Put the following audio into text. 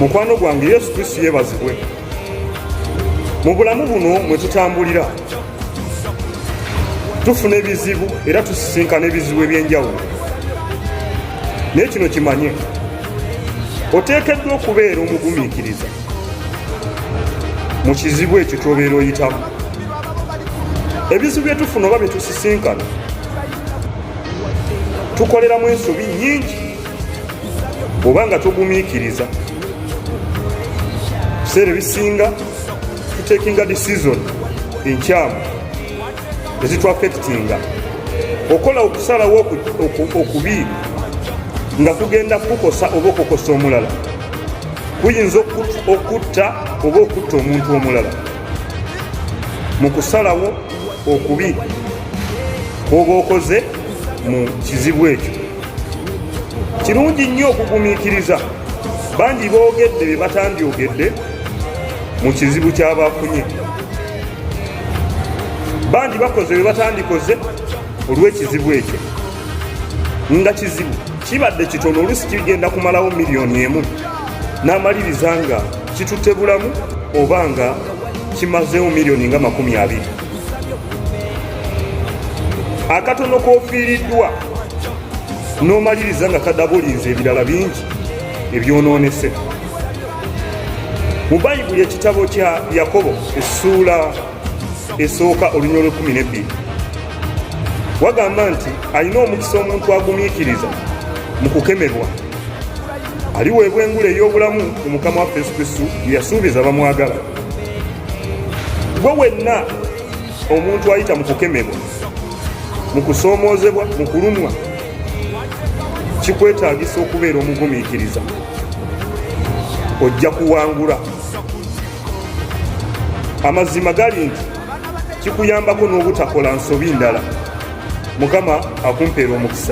mukwano gwange yesu kristo yebazibwe mu bulamu buno mwe tutambulira tufuna ebizibu era tusisinkana ebizibu ebyenjawulo naye kino kimanye oteekeddwa okubeera omugumiikiriza mu kizibu ekyo kyobeera oyitamu ebizibu byetufuna oba byetusisinkana tukoleramu ensobi nyingi oba nga togumiikiriza biseera ebisinga tutekinga decision enkyamu ezitwafekitinga okola okusalawo okubi nga kugenda kukukosa oba okukosa omulala kuyinza okutta oba okutta omuntu omulala mu kusalawo okubi oba okoze mu kizibu ekyo kirungi nnyo okugumiikiriza bangi boogedde be batandyogedde mu kizibu kyabafunye bangi bakoze be batandikoze olw'ekizibu ekyo nga kizibu kibadde kitono oluusi kigenda kumalawo miliyoni emu n'amaliriza nga kitutte bulamu oba nga kimazeewo miliyoni nga makumi abiri akatono kofiiriddwa n'omaliriza nga kadabulinze ebirala bingi ebyonoonese mu bayibuli ekitabo kya yakobo essuula esooka olunya olwekumi nebbiri wagamba nti alina omukisa omuntu agumiikiriza mu kukemebwa aliweebwa engule ey'obulamu mu mukama waffe yesu kristu yeyasuubiza bamwagala gwe wenna omuntu ayita mu kukemebwa mu kusoomoozebwa mu kulumwa kikwetaagisa okubeera omugumiikiriza ojja kuwangula amazima gali nti kikuyambako n'obutakola nsobi ndala mukama akumpeera omukisa